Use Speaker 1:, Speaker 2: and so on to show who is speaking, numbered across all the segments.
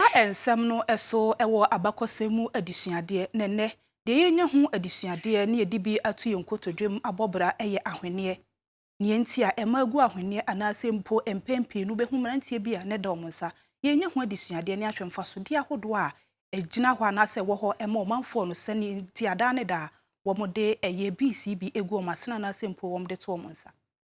Speaker 1: Saa nsɛm no so wɔ abakɔsɛm mu adesuadeɛ, na ɛnnɛ, deɛ yɛrenya ho adesuadeɛ na yɛde bi ato yɛn nkotodwem abɔ bra yɛ ahweneɛ. Nea enti a ɛma agu ahweneɛ anaasɛ mpo mpɛn pii no wobɛhu mmeranteɛ bi a na ɛda wɔn nsa yɛrenya ho adesuadeɛ ne ahwɛ mfasodeɛ ahodoɔ a ɛgyina hɔ anaasɛ ɛwɔ hɔ ma ɔmanfoɔ no sɛdeɛ nti a daa ne daa wɔde ɛyɛ bi si bi gu wɔn asene anaasɛ mpo wɔde to wɔn nsa.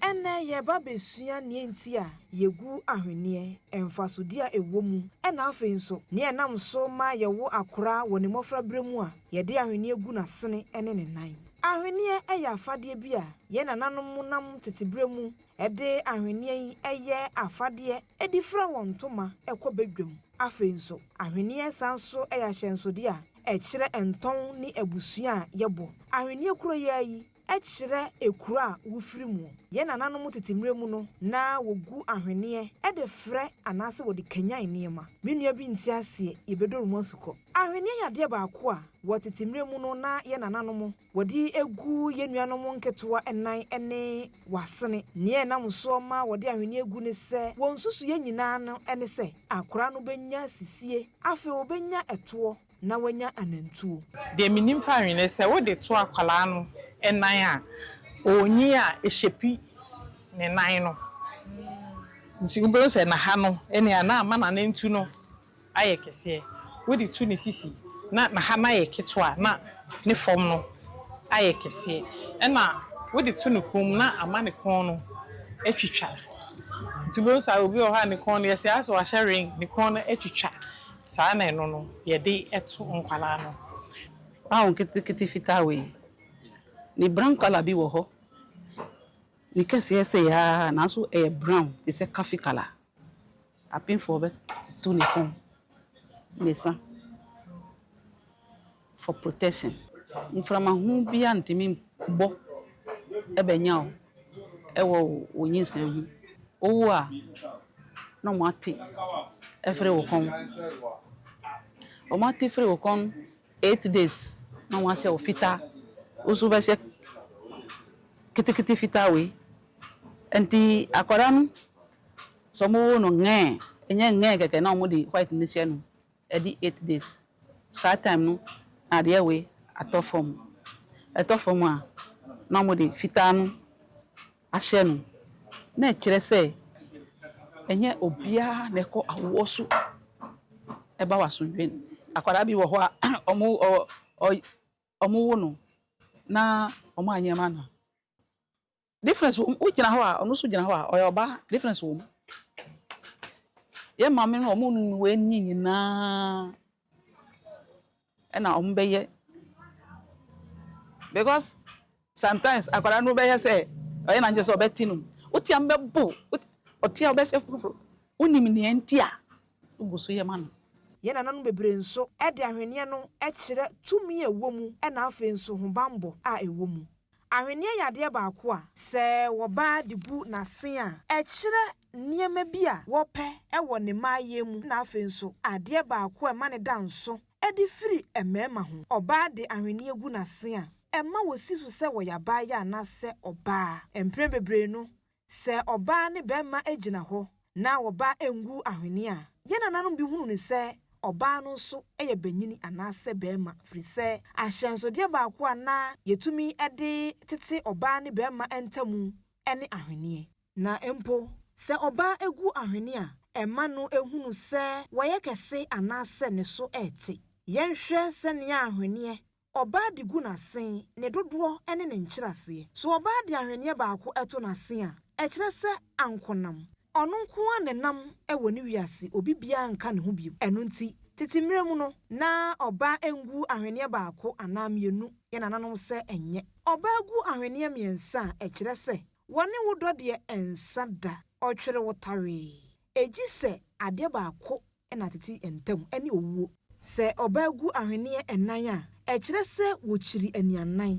Speaker 2: Ɛnnɛ yɛreba abɛsua nea enti a yɛgu ahweneɛ, mfasodeɛ a ɛwɔ mu, ɛna afei nso nea ɛnam so ma yɛwo akora wɔ ne mmɔfra berɛ mu a yɛde ahweneɛ gu n'asene ne ne nan. Ahweneɛ yɛ afadeɛ bi a yɛn nananom nam tete berɛ mu de ahweneɛ yi yɛ afadeɛ de fira wɔn ntoma kɔ badwam. Afei nso ahweneɛ san nso yɛ ahyɛnsodeɛ a ɛkyerɛ ntɔn ne abusua a yɛbɔ. Ahweneɛ kuro yi ara yi kyerɛ ekuro a wofiri mu. Yɛn nananom tete mmerɛ mu no, na wɔgu ahweneɛ de frɛ anaasɛ wɔde kanyan nneɛma. Me nua bi nte aseɛ, yɛbɛdɔre mu asukɔ. Ahweneɛ yɛ adeɛ baako a, wɔ tete mmerɛ mu no, na yɛn nananom wɔde gu yɛn nuanom nketewa nan ne wɔn asene. Nea ɛnam soɔ ma wɔde ahweneɛ gu ne sɛ, wɔn nsusuiɛ nyinaa no ne sɛ, akwadaa no bɛnya sisie. Afei ɔbɛnya ɛtoɔ. na wanya anantuo. Deɛ menim fa
Speaker 3: wene ne sɛ wode to akwadaa no nan a, ɔnyin a ɛshapi ne nan no. Nti wobɛhu sɛ naha no ne a na ama nanantu no ayɛ kɛseɛ. Wode to ne sisi na naha no ayɛ ketewa na ne fam no ayɛ kɛseɛ. Ɛna wode to ne kɔn mu na ama ne kɔn no atwitwa. Nti wobɛhu sɛ obi wɔ hɔ a ne kɔn no yɛsɛ asɛ wahyɛ ring ne kɔn no atwitwa. Saa na ɛno no yɛde to nkwadaa no. Aw
Speaker 4: nketekete fitaa wei. Ne brown colour bi wɔ hɔ. Ne kɛseɛ sei ara nanso ɛyɛ brown te sɛ coffee colour. Apemfoɔ bɛto ne kɔn, ne sa. for protection mframa ho biara ntumi bɔ bɛnya wo wɔ wo nyinsɛn ho wowo a na ɔmo ate firi wo kɔn ɔmo ate firi wo kɔn eight days na wɔn ahyɛ wo fitaa wo nso wobɛhyɛ kitikiti fitaa wei nti akwadaa no sɛ ɔmo wo no ngɛɛ ɛnyɛ ngɛɛ kɛkɛ na ɔmo de white no hyɛ no Ɛdi eight days saa time no na adeɛ wei atɔ fam ɛtɔ fam a na wɔn de fitaa no ahyɛ no na ɛkyerɛ sɛ ɛnyɛ obiara na ɛkɔ awoɔ so ɛba wasomdwoeɛ no akwadaa bi wɔ hɔ a wɔn wɔn wo no na wɔn anyɛ ma no a Difference wɔ mu. Wo gyina hɔ a, ɔno nso gyina hɔ a, ɔyɛ ɔbaa. Difference wɔ mu. Yɛn maame no, wɔn nunu wei ni nyinaa ɛna wɔn bɛyɛ. Because sometimes akwadaa no bɛyɛ sɛ ɔyɛ n'adwene sɛ ɔbɛte no mu. Wo te a, mbɛbo. Ɔte a, ɔbɛsɛ foforo. Wonim nea nti a wogu so yɛ ma no. Yɛn nananom bebree
Speaker 2: nso de ahweneɛ no kyerɛ tumi a ɛwɔ mu na afei nso hobammɔ a ɛwɔ mu. Ahweneɛ yɛ adeɛ baako a. Sɛ wɔba de gu n'asen a. Ɛkyerɛ nneɛma bi a wɔpɛ wɔ ne mmaayɛ mu na afei nso adeɛ baako a ɛma no da nso de firi mmarima ho. Ɔbaa de ahweneɛ gu n'asen a, ɛma wɔsi so sɛ ɔyɛ abaayewa anaasɛ ɔbaa. Mprɛ bebree no, Sɛ ɔbaa ne bɛmma gyina hɔ na wɔba ngu ahwene a, yɛn nananom bi hunu no sɛ ɔbaa no nso yɛ banyini anaasɛ bɛmma firi sɛ ahyɛnsodeɛ baako a na yɛtumi de tete ɔbaa ne bɛmma ntamu ne ahweneɛ. Na mpo sɛ ɔbaa gu ahwene a, ɛma no hunu sɛ wayɛ kɛse anaasɛ ne so rete. Yɛnhwɛ sɛnea ahweneɛ Ɔbaa de gu n'asen, ne dodoɔ ne ne nkyerɛaseɛ. So ɔbaa de ahweneɛ baako to n'asen a, ɛkyerɛ sɛ ankonam. Ɔno nko ara na ɛnam wɔ ne wiase, obi biara nka ne ho bio. Ɛno nti, tete mmerɛ mu no, na ɔbaa ngu ahweneɛ baako anaa mmienu, yɛn nananom sɛ ɛnyɛ. Ɔbaa gu ahweneɛ mmiɛnsa a, ɛkyerɛ sɛ, wɔne wo dɔ deɛ ɛnsa da, ɔtwere wo tawee. Ɛgyi sɛ adeɛ baako na tete ntam ne owuo. Sɛ ɔbaa gu ahweneɛ nnan a, ɛkyerɛ sɛ wɔkyiri anianan.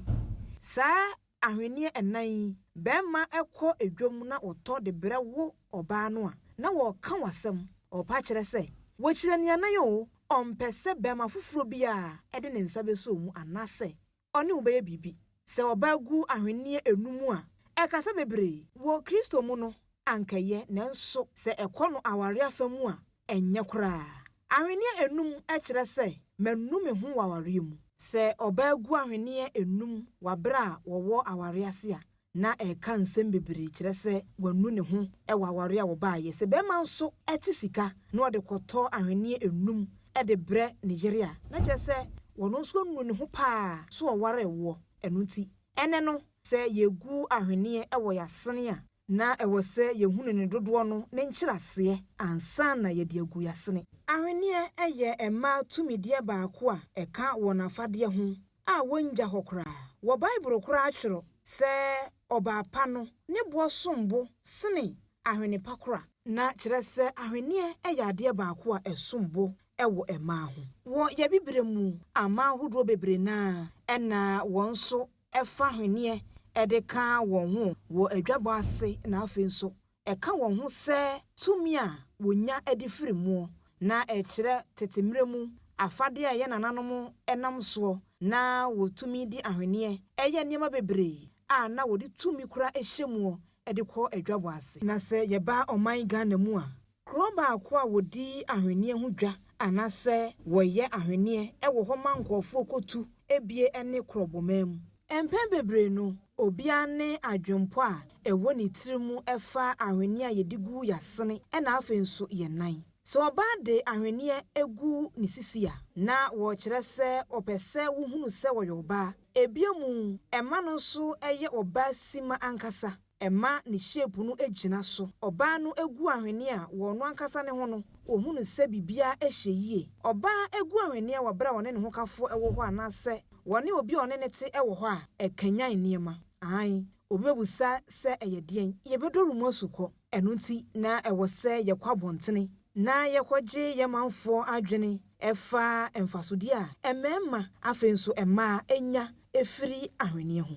Speaker 2: Saa ahweneɛ nnan yi, barima kɔ dwam na ɔtɔ de berɛ wo ɔbaa no a, na wɔreka wo asɛm. Ɔpa kyerɛ sɛ, wakyiri anianan oo, ɔmpɛ sɛ barima foforɔ biara de ne nsa bɛsɔ mu anaasɛ Ɔne wo bɛyɛ biribi. Sɛ ɔbaa gu ahwenneɛ anu mu a, ɛkasa bebree. Wɔ Kristo mu no, anka ɛyɛ, nanso sɛ ɛkɔ no aware afa mu a, ɛnyɛ koraa. Ahwenneɛ anum kyerɛ sɛ manu me ho wɔ awareɛ mu. Sɛ ɔbaa gu ahwenneɛ anum wɔ berɛ a wɔwɔ awareɛ ase a, na ɛka nsɛm bebree kyerɛ sɛ wanu ne ho wɔ aware a wɔbaeɛ. Sɛ barima nso te sika na ɔde kɔtɔ ahweneɛ nnum de brɛ ne yere a, na kyerɛ sɛ ɔno nso anu ne ho paa sɛ ɔwaree woɔ. Ɛno nti, ɛnnɛ no, sɛ yɛgu ahweneɛ wɔ yɛn asene a, na ɛwɔ sɛ yɛhunu ne dodoɔ no ne nkyerɛaseɛ ansa na yɛde agu yɛn asene. Ahweneɛ yɛ mmaa tumideɛ baako a ɛka wɔn afadeɛ ho a wonngya hɔ koraa. Wɔ Bible koraa twerɛ sɛ ɔbaa pa no ne boɔ som bo sene ahwene pa kora. Na kyerɛ sɛ ahweneɛ yɛ adeɛ baako a ɛsom bo wɔ mmaa ho. Wɔ yɛ bibire mu aman ahodoɔ bebree no ara na wɔn nso fa ahweneɛ de ka wɔn ho wɔ adwabɔ ase na afei nso ɛka wɔn ho sɛ tumi a wɔnya de firi mu, na ɛkyerɛ tete mmerɛ mu afadeɛ a yɛn nananom nam soɔ na wɔtumi de ahweneɛ yɛ nneɛma bebree a na wɔde tumi kora hyɛ mu de kɔ adwabɔ ase. Na sɛ yɛba ɔman Ghana mu a, kuro baako a wɔdi ahweneɛ ho dwa anaasɛ wɔyɛ ahweneɛ wɔ hɔ ma nkurɔfoɔ kɔtu bie ne Krɔbɔmam. Mpɛn bebree no, obiara ne adwempɔ a ɛwɔ ne tirim fa ahweneɛ a yɛde gu y'asene ɛna afei nso yɛn nan. Sɛ ɔbaa de ahweneɛ gu ne sisi a, na wɔrekyerɛ sɛ ɔpɛ sɛ wohunu sɛ ɔyɛ ɔbaa. Ebio mu, ɛma no nso yɛ ɔbaa simma ankasa. ɛma ne shape no gyina so. Ɔbaa no gu ahweneɛ a, wɔ ɔno ankasa ne ho no, ɔhu no sɛ biribiara ɛhyɛ yie. Ɔbaa gu ahweneɛ wɔ berɛ a ɔne ne hokafoɔ wɔ hɔ anaasɛ ɔne obi a ɔne no te wɔ hɔ a, ɛkanyan nneɛma. Aane, obi bɛbusa sɛ ɛyɛ deɛn? Yɛbɛdɔ rumu asukɔ. Ɛno nti na ɛwɔ sɛ yɛkɔ abɔntene na yɛkɔgye yɛn manfoɔ adwene ɛfa mfasodeɛ a mmarima, afei nso mmaa, nya firi ahweneɛ ho.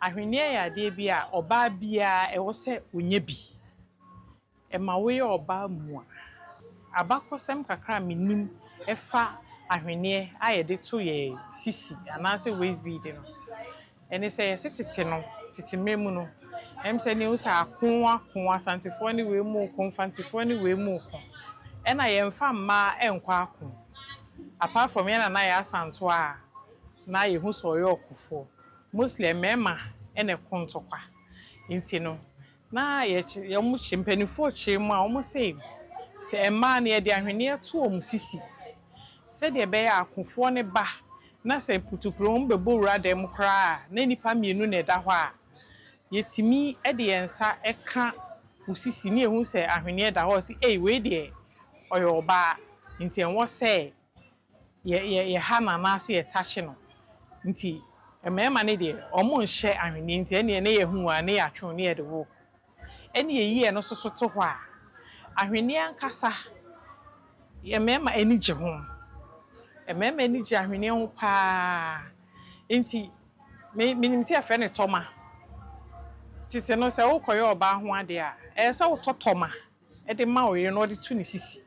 Speaker 2: Ahweneɛ yɛ adeɛ
Speaker 3: bi a ɔbaa biara ɛwɔ sɛ ɔnya bi. Ɛma woyɛ ɔbaa mua. Abakɔsɛm kakra a menim ɛfa ahweneɛ a yɛde to yɛn sisi anaasɛ waist bead no, ɛne sɛ yɛse tete no, tete mmerɛ mu no, ɛne sɛ ne wo sɛ ako ako, Asantefoɔ ne wei mu ko, Mfantefoɔ ne wei mu ko. Ɛna yɛmfa mmaa nkɔ ako, apart from yɛn nana yɛ Asantewa a, na yehu sɛ ɔyɛ ɔkofoɔ, mostly mmarima na ɛko ntɔkwa nti no na yɛkye, mpaninfoɔ kyerɛ mu a wɔn se sɛ mmaa no yɛde ahweneɛ to wɔn sisi sɛdeɛ ɛbɛyɛ a akofoɔ no ba na sɛ mputuprɛ wɔn bɛbɔ wura dan mu koraa a na nnipa mmienu na ɛda hɔ a yɛtumi de yɛn nsa ka wo sisi na yɛhu sɛ ahweneɛ da hɔ a wɔse ei wei deɛ ɔyɛ ɔbaa nti ɛwɔ sɛ yɛ yɛ yɛha no anaase yɛtakye no nti mmarima no deɛ ɔmo nhyɛ ahweneɛ nti ɛneɛ ne yɛhu a ne yɛatwe wo ne yɛde wo ɛne yɛyi ɛno nso so to hɔ a ahweneɛ ankasa yɛ mmarima ani gye ho mmarima ani gye ahweneɛ ho paa nti me menim sɛ yɛfrɛ no tɔma tete no sɛ wokɔyɛ ɔbaa ho adeɛ a ɛyɛ sɛ wotɔ tɔma de ma ɔyere na ɔde to ne sisi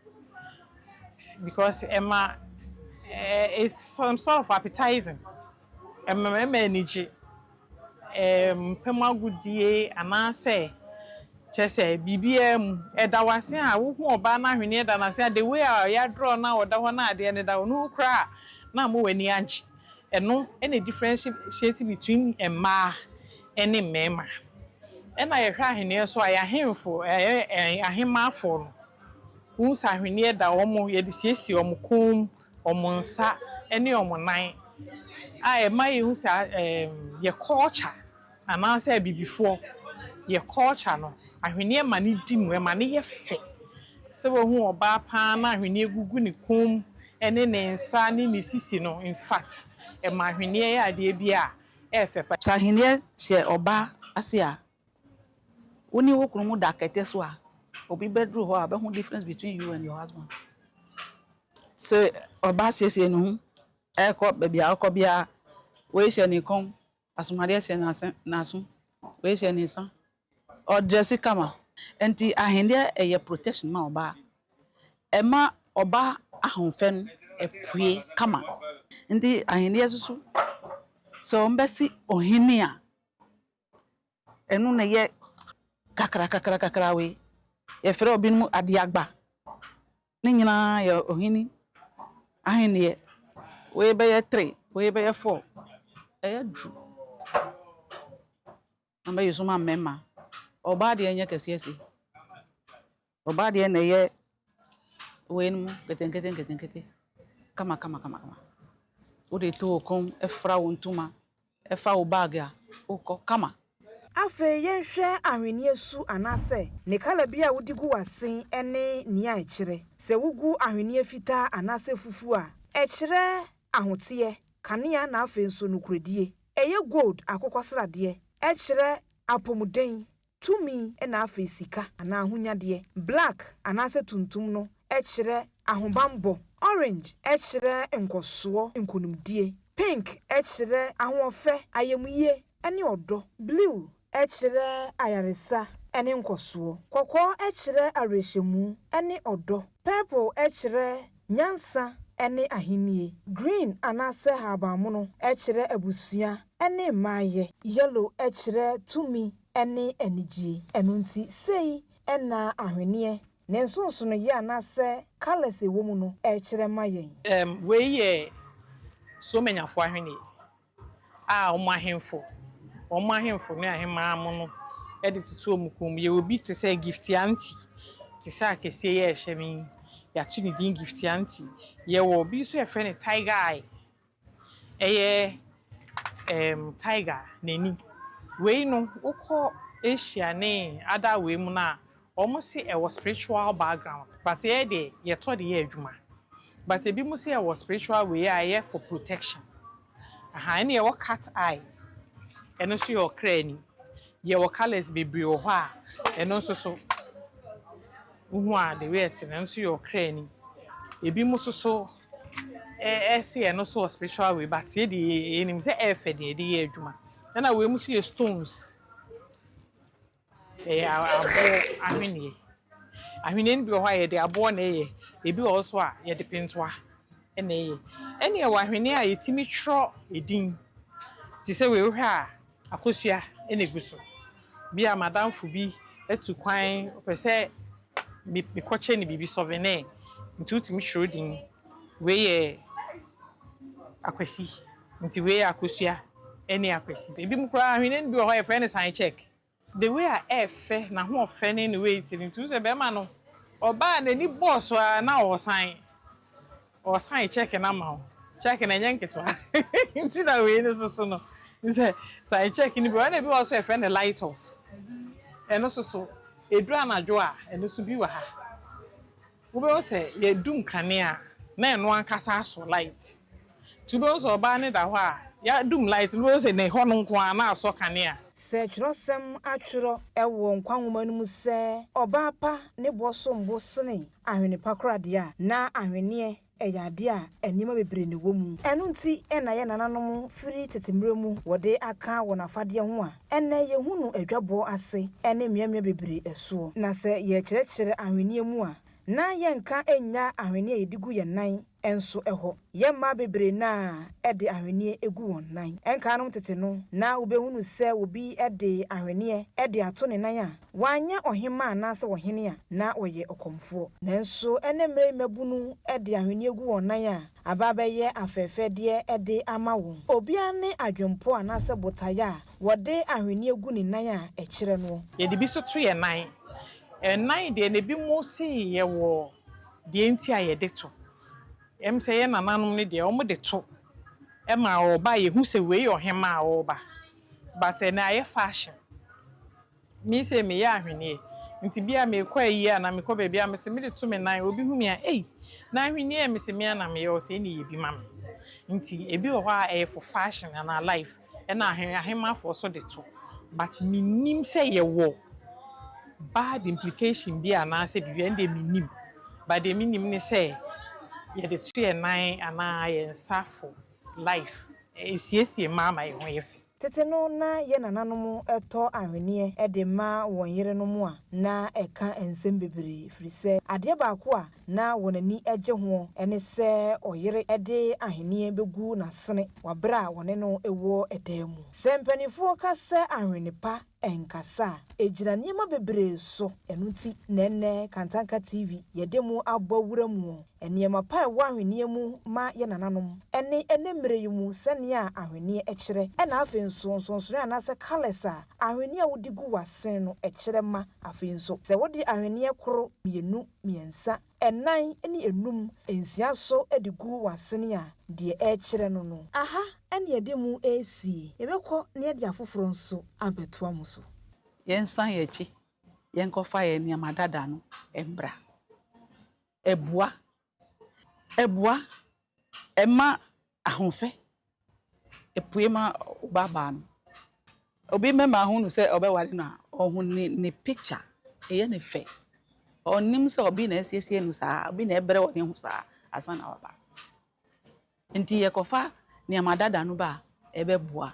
Speaker 3: because ɛma it's some sort of appetising ɛma mmarima ani gye mpam agodie anaasɛ kyerɛ sɛ biribiara mu ɛda wo ase a wo hu ɔbaa no ahweneɛ da no ase a the way a ɔyɛ adrɔ no a ɔda hɔ no a adeɛ no da hɔ no wo koraa a na ama w'ani agye ɛno na differentiate between mmaa. ne mmarima. Ɛna yɛhwɛ ahweneɛ nso a, yɛn ahemfo, yɛn ahemmafoɔ no, wohu sɛ ahweneɛ da wɔn, yɛde siesie wɔn kɔn mu, wɔn nsa ne wɔn nan, a ɛma yɛhu sɛ yɛn culture anaasɛ abibifoɔ, yɛn culture no, ahweneɛ ma no di mu, ɛma no yɛ fɛ. Sɛ woahu ɔbaa pa ara na ahweneɛ gugu ne kɔn mu ne ne nsa ne ne sisi no, in fact, ɛma ahweneɛ yɛ adeɛ bi a yɛ fɛ paa. Sɛ ahenneɛ hyɛ
Speaker 4: ɔbaa ase a, wo ne wo kunu mo da kɛtɛ so a, obi bɛduru hɔ a ɔbɛhu difference between you and your husband. Sɛ ɔbaa siesie ne ho rekɔ baabi a ɔkɔ biara, wei hyɛ ne kɔn, asomadeɛ hyɛ n'aso, wei hyɛ ne nsa, Ɔgye sika ma. Enti ahendeɛ yɛ protection ma ɔbaa. Ɛma ɔbaa ahofɛ no pue kama. Enti ahendeɛ nso so, sɛ wɔbɛse ohene a, ɛno na ɛyɛ kakrakakrakakra wei. Yɛfrɛ ebinom adeagba. Ne nyinaa yɛ ohene ahendeɛ. Wei bɛyɛ three, wei bɛyɛ four. Ɛyɛ duru. Na mɛyɛ sum ama mɛma. Ɔbaa deɛ nyɛ kɛseɛ se. Ɔbaa deɛ na ɛyɛ wei no mu ketenkete nketenkete kama kama kama kama. Wode to wo kom fra wo ntoma fa wo bag a wokɔ kama. Afei
Speaker 2: yɛnhwɛ ahweneɛ su anaasɛ ne kala bi a wode gu w'asen ne nea ɛkyerɛ. Sɛ wogu ahweneɛ fitaa anaasɛ fufuo a, ɛkyerɛ ahoteɛ, kanea na afei nso nokorɛdie. Ɛyɛ gold, akokɔsradeɛ, ɛkyerɛ apɔmuden, tumi, ɛna afei sika anaa ahonyadeɛ. Black anaasɛ tuntum no ɛkyerɛ ahobanbɔ. Orange ɛkyerɛ nkɔsoɔ, nkonimdie. Pink ɛkyerɛ ahoɔfɛ, ayamyie, ɛne ɔdɔ. Blue kyerɛ ayaresa ne nkɔsoɔ. Kɔkɔɔ kyerɛ awerɛhyɛmu ne ɔdɔ. Purple kyerɛ nyansa ne ahennie. Green anaasɛ ahabanmono kyerɛ abusua ne mmaeɛ. Yellow kyerɛ tumi ne anigyeɛ. Ɛno nti, sei na ahweneɛ, ne nsonsonoeɛ anaasɛ colours ɛwɔ mu no kyerɛ ma yɛn. Wei yɛ
Speaker 3: Suomenyafoɔ ahweneɛ. a wɔn ahemfo, wɔn ahemfo ne ahemmaa mo no de toto wɔn kɔn mu. Yɛwɔ bi te sɛ Giftianti, te sɛ akɛseɛ yi a ɛhyɛ me yi, yɛato ne din Giftianti. Yɛwɔ bi nso yɛfrɛ no Tiger Eye, ɛyɛ ɛɛm tiger n'ani. Wei no wokɔ Asia ne other wei mu no a, Ɔmo se ɛwɔ spiritual background but yɛ deɛ yɛtɔ de yɛ adwuma but ebi mo se ɛwɔ spiritual wei a ɛyɛ for protection ahaa ɛna yɛwɔ cat eye ɛno nso yɛ ɔkra ani yɛwɔ colours bebree wɔ hɔ a ɛno nso so wo hu a the way ɛte no ɛno nso yɛ ɔkra ani ebi mo nso so ɛse ɛno nso wɔ spiritual wei but yɛ deɛ yɛnim sɛ ɛyɛ fɛ deɛ yɛde yɛ adwuma ɛna wei mo nso yɛ stones. Ɛyɛ aboɔ ahweneɛ. Ahweneɛ no bi wɔ hɔ a yɛde aboɔ na ɛyɛ, ebi wɔ hɔ nso a yɛde pentoa na ɛyɛ. Ɛna ɛwɔ ahweneɛ a yɛtumi twerɛ edin te sɛ wei wohwɛ a akosua na egu so. Bi a m'adamfo bi atu kwan ɔpɛ sɛ mekɔkyɛ no biribi, sɔvenɛɛ, nti wotumi twerɛ din Wei yɛ Akwasi. Nti wei yɛ Akosua ne Akwasi. Ebinom koraa ahweneɛ no bi wɔ hɔ a yɛfrɛ no sign check. The way a ɛɛfɛ, n'ahoɔfɛ ne ne weight no nti wohu sɛ bɛrima no ɔbaa a n'ani bɔɔ so ara na ɔresan. Ɔresan check no ama wo. Check no ɛnyɛ nketewa nti na wei no nso so no wohu sɛ sign check no bi wɔ hɔ. Ɛna ebi wɔ hɔ nso a yɛfrɛ no light off. Ɛno nso so, ɛduru anadwo a ɛno nso bi wɔ ha. Wobɛhu sɛ yɛadu nkanea a, na ɛno ankasa asɔ light. Nti wobɛhu sɛ ɔbaa no da hɔ a, yɛadum light no, wobɛhu sɛ na ɛhɔ no nko ara na asɔ kanea. Sɛ twerɛsɛm
Speaker 2: atwerɛ wɔ nkwa nwoma no mu sɛ ɔbaa pa ne boɔ som bo sene ahwene pa koraa deɛ a, na ahweneɛ Ɛyɛ adeɛ a nneɛma bebree na ɛwɔ mu. Ɛno nti na yɛn nananom firi tete mmerɛ mu wɔde aka wɔn afadeɛ ho a ɛnnɛ yɛhu no adwabɔ ase ne mmeammea bebree soɔ. Na sɛ yɛrekyerɛkyerɛ ahweneɛ mu a, na yɛnka nnya ahweneɛ a yɛde gu yɛn nan nso hɔ. Yɛn mmaa bebree no ara de ahweneɛ gu wɔn nan. Nkanom tete no, na wobɛhunu sɛ obi de ahweneɛ de ato ne nan a, Wanyɛ ɔhemmaa anaasɛ ɔhene a na ɔyɛ ɔkɔmfoɔ. Nanso ɛnnɛ mmerɛ yi mmabunu de ahweneɛ gu wɔn nan a aba abɛyɛ afɛɛfɛdeɛ de ama wɔn. Obiara ne adwempɔ anaasɛ botaeɛ a wɔde ahweneɛ gu ne nan a ɛkyerɛ noɔ. Yɛde bi nso to yɛn
Speaker 3: nan. Ɛnan deɛ na ebinom se yɛwɔ deɛ nti a yɛde to. Ɛm sɛ yɛn nananom no deɛ wɔde to ma ɔreba a yɛhu sɛ wei yɛ ɔhemmaa a ɔreba but ɛnnɛ ayɛ fashion. Me sei meyɛ ahweneɛ nti bia mekɔ ayie anaa mekɔ baabi a mete mede to me nan obi hu me a ei na ahweneɛ mese mea na meyɛ ɔsɛ ɛne yɛ bi ma me nti ebi wɔ hɔ a ɛyɛ for fashion anaa life ɛna ahe ahemafoɔ so de to but menim sɛ yɛwɔ bad implication bi anaasɛ biribi ɛnde menim but deɛ menim ne sɛ yɛde to yɛ nan anaa yɛ nsa for life ɛsiesie mmaa ma yɛ ho yɛ fɛ. Tete
Speaker 2: no na yɛn nananom tɔ ahweneɛ de ma wɔn yerenom a na ɛka nsɛm bebree ɛfiri sɛ adeɛ baako a na wɔn ani gye hoɔ ne sɛ ɔyere de ahweneɛ bɛgu n'asene wɔ berɛ a wɔne no wɔ dan mu. Sɛ mpaninfoɔ ka sɛ ahwene pa, ɛnkasa a, ɛgyina nneɛma bebree so. Ɛno nti na ɛnnɛ Kantanka TV yɛde mo abɔ wura mu wɔ nneɛma pa a ɛwɔ ahweneɛ mu ma yɛn nananom ɛne ɛnnɛ mmerɛ yi mu sɛdeɛ a ahweneɛ kyerɛ ɛna afei nso nsonsonoɛ anaasɛ colours a ahweneɛ a wode gu w'asen no kyerɛ ma afei nso sɛ wode ahweneɛ koro, mmienu, mmiɛnsa, ɛnan ne enum, nsia so de gu w'asene a, deɛ ɛrekyerɛ no no. Aha ne yɛde mo resie. Yɛbɛkɔ na yɛde afoforɔ nso abɛtoa mo so. Yɛnsan yɛn
Speaker 4: akyi, yɛnkɔfa yɛn nneɛma dada no mmra. Abua! Abua! Ɛma ahofɛ pue ma ɔbaabaa no. Obi mɛma ahu no sɛ ɔbɛware no a, ɔhu ne ne picture, ɛyɛ no fɛ. Ɔnnim sɛ obi na asiesie no saa, obi na ɛbrɛ wɔ ne ho saa ansa na waba. Nti yɛkɔfa nneɛma dada no ba a, ɛbɛboa.